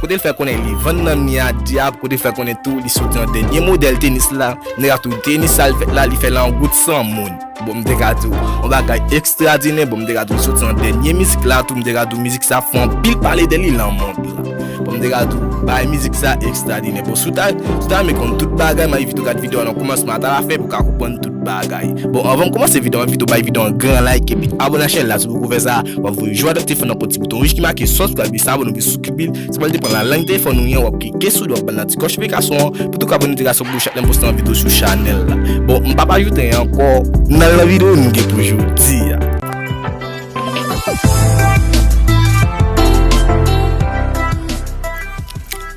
Kote l fè konnen li vann nan mi a dyab kote l fè konnen tou li soti nan dènye modèl tenis la nèg la tou tenis sa l fèt la li fè l an gout san moun bon m te ka di w on bagay ekstradinè bon m te ka di w li soti nan dènye mizik la tou m te ka di w mizik sa fè anpil pale de li lan mond la bon m te ka di w bagay mizik sa ekstradinè bon si w ta si w ta renmen konn tout bagay m envite w gad videyo an nan kòmansman ata lafen pou w ka konprann tout bagay bon anvan m kòmanse videyo an m envite w bay videyo an gran like epi abòne ak chènèl la si w poko fè sa w ap voye jwèt ak telefòn nan kont ti bouton wouj ki make sòs pou w ka Epi sa abone pou Souki Bill. Se pral depan la lang telefòn nou gen, wap klike sou li wap bal nan ti kòch plikasyon an pou tou ka abone dirèk sou bouch ak lèm poste yon video sou chanèl la. Bon, m pap ajoute anyen ankò, nan lan video nou gen pou jodi a.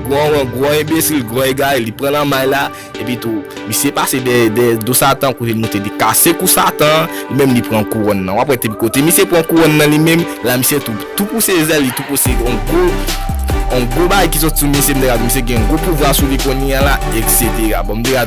Gwo ron gwo enbesil gwo egare li pran nan may la epi tou misye pase dèyè do satan kou li moute li kase kou satan an li menm li pran kouronn nan wap wè te kote misye pran kouronn nan li menm la misye tou tou pouse zèl li tou pouse yon gwo yon gwo bagay ki soti sou misye misye gen yon gwo pouvwa sou li kounye a la etc bon m te ka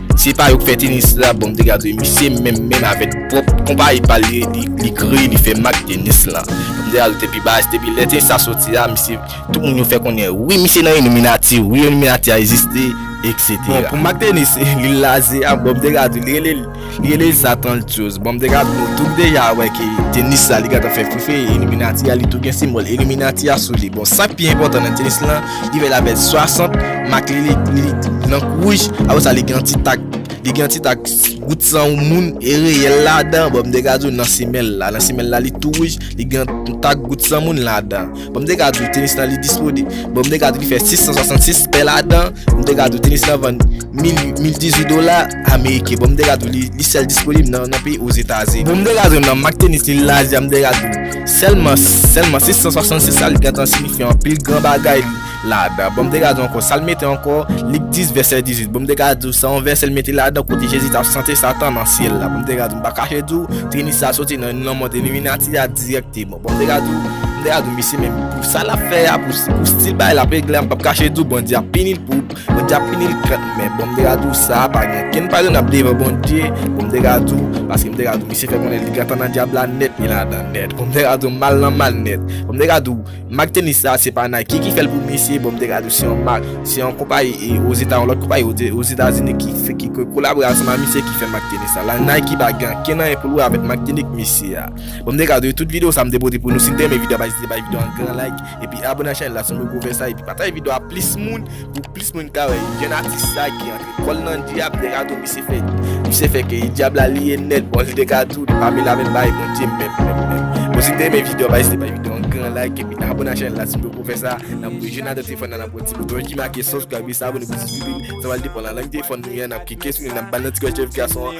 Se pa yo k fè tenis la bon mte gade misye menm menm avèk pwòp konpayi pal li kreye li fè mak tenis la mte gade te pi baz depi lè tenis la soti a misye tout moun yo fè konnen wi misye nan iliminati wi iliminati a egziste etc. Bon pou mak tenis li laze a bon mte gade li rele li rele sa tantyoz bon mte gade nou tout deja wè ke tenis la li gentan fè fri fri iliminati a li tou gen senbòl iliminati a sou li bon sak pi enpòtan nan tenis la Li gen la vèt 60, mak li li blan kou wouj, apre sa li gen yon ti tak, li gen yon ti tak gout san yon moun e reyèl ladan, bon m te ka di w nan semèl la, nan semèl la li tou wouj, li gen yon tak gout san moun ladan. Bon m te ka di w tenis lan li dispone, bon m te ka di w li fè 666 pè ladan, m te ka di w tenis lan vann 1018 dola ameriken, bon m te ka di w li sèl disponib nan peyi Ozetaze. Bon m te ka di w nan mak tenis li lajan, m te ka di w. Sèlman, sèlman 666 sa li gentan siyifi anpil gran bagay ladan. Bon m te gade ankò, sa l mete ankò, Lik 10 vèsè 18, bon m te gade w, se yon vèsè l mete ladan kote Jezi t ap chante Satan nan syèl la, bon m te gade w, m pa kache di w, Trinit sa soti nan nan mond Illuminati a dirèkteman, bon m te gade w, m te gade w, misye menm pou sa l ap fè a, pou stil bagay l ap regle a, m p ap kache di w Bondye ap pini l pou. Bondye ap pini l kant men bon m te ka di w sa pa gen kenn pa renab devan Bondye bon m te ka di w paske m te ka di w misye fè konnen li gentan nan dyab la nèt li ladan nèt bon m te ka di w mal nan mal nèt bon m te ka di w mak tenis sa se pa Nike ki fè l pou misye bon m te ka di w se yon mak se yon konpayi ozeta yon lòt konpayi ozetazini ki fè ki kolabore ansanm ak misye ki fè mak tenis sa la Nike pa gen ankenn anyen pou l wè avèk mak tenik misye a bon m te ka di w tout videyo sa m te pote pou nou si n te renmen videyo a pa ezite bay videyo a yon gran like. Epi abone ak chanel la siw poko fè sa epi pataj video a plis moun pou plis moun ka wè jèn atis sa ki antre kòl nan dyab degado misye fè misye fè ke dyab la li ye nèt bon li degado pamela menm bay bondye menm menm menm bon si te men video pa ezite bay video an gran like epi abone ak chanel la siw poko fè sa nan pou jèn atis fè nan nan pou ti bouton ki make sòs gwa epi sa abone pou ti bibin sa wal depan nan lang telefòn nou yan nap kike sou li nap bal nan ti kòl chèf gason an.